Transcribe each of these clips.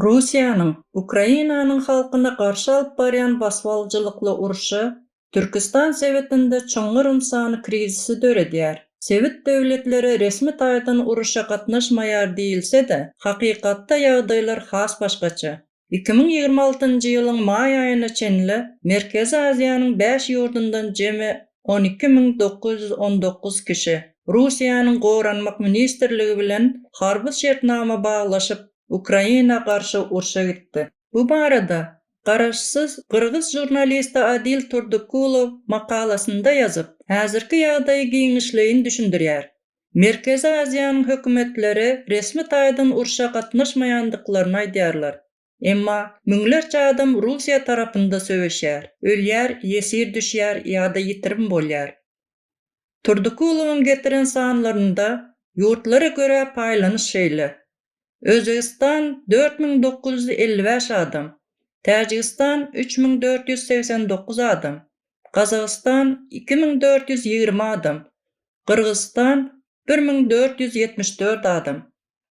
Russiýanyň Ukrainanyň halkyna garşy alyp barýan basybalyjylykly urşy Türküstan sebitinde çuňňur ynsany krizisi döredýär. Sebit döwletleri resmi taýdan uruşa gatnaşmaýar diýilse-de, hakykatda ýagdaýlar has başgaça. Iki müň ýigrimi altynjy ýylyň maý aýyna çenli Merkezi Aziýanyň bäş ýurdundan jemi on iki müň dokuz ýüz on dokuz kişi Russiýanyň Goranmak ministrligi bilen harby şertnama baglaşyp, Ukraina garşy urşa gitdi. Bu barada garaşsyz gyrgyz žurnalisti Adil Turdykulow makalasynda ýazyp, häzirki ýagdaýy giňişleýin düşündirýär. Merkezi Aziýanyň hökümetleri resmi taýdan urşa gatnaşmaýandyklaryny aýdýarlar. Emma müňlerçe adam Russiýa tarapynda söweşýär, ölýär, ýesir düşýär ýa-da ýitirim bolýar. Turdykulowyň getiren sanlarynda ýurtlara görä paýlanyş şeýle, Özbegistan, dört müň dokuz ýüz elli bäş adam, Täjigistan, üç müň dört ýüz segsen dokuz adam, Gazagystan, iki müň dört ýüz ýigrimi adam, Gyrgyzystan, bir müň dört ýüz ýetmiş dört adam,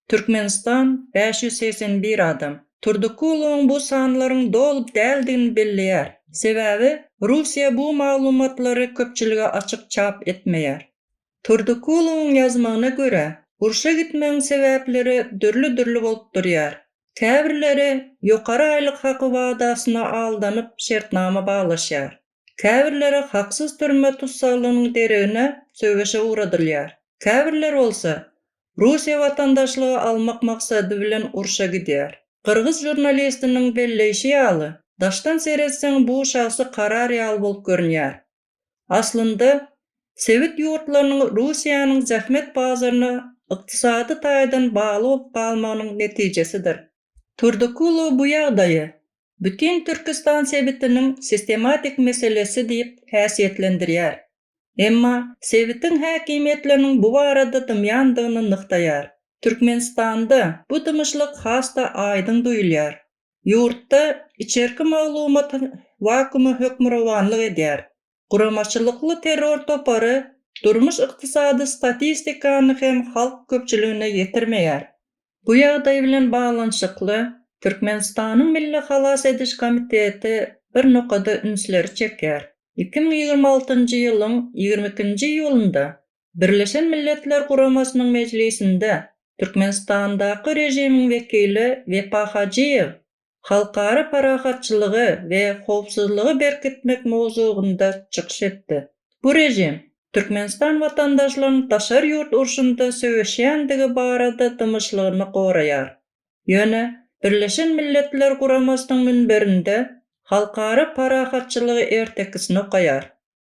Türkmenistan, bäş ýüz segsen bir adam. Turdykulowyň bu sanlaryň doly däldigini belleýär, sebäbi Russiýa bu maglumatlary köpçülige açyk çap etmeýär. Turdykulyň ýazmagyna görä, urşa gitmegiň sebäpleri dürli-dürli bolup durýar. Käbirleri ýokary aýlyk haky wadasyna aldanyp şertnama baglaşýar. Käbirleri haksyz türme tussaglygynyň deregine söweşe ugradylýar. Käbirleri bolsa, Russiýa watandaşlygy almak maksady bilen urşa gidýär. Gyrgyz žurnalistiniň belleýşi ýaly, daşdan seretseň bu şahsy karar ýaly bolup görünýär. Aslynda, sebit ýurtlarynyň Russiýanyň zähmet bazaryna ykdysady taýdan bagly bolup galmagynyň netijesidir. Turdykulow bu ýagdaýy bütin Türküstan sebitiniň sistematik meselesi diýip häsiýetlendirýär, emma sebitiň häkimiýetleriniň bu barada dymýandygyny nygtaýar. Türkmenistanda bu dymyşlyk has-da aýdyň duýulýar. Ýurtda içerki maglumat wakumy hökmürowanlyk edýär. Guramaçylykly terror topary durmuş-ykdysady statistikany hem halk köpçüligine ýetirmeýär. Bu ýagdaý bilen baglanyşykly, Türkmenistanyň Milli halas ediş komiteti bir nokada ünsleri çekýär. Iki müň ýigrimi altynjy ýylyň ýigrimi ikinji iýulynda Birleşen Milletler Guramasynyň mejlisinde Türkmenistandaky režimiň wekili Wepa Hajyýew halkara parahatçylygy we howpsuzlygy berkitmek mowzugynda çykyş etdi. Bu režim Türkmenistan watandaşlarynyň daşary ýurt urşunda söweşýändigi barada dymyşlygyny goraýar. Ýöne Birleşen Milletler Guramasynyň münberinde halkara parahatçylygy ertekisini okaýar.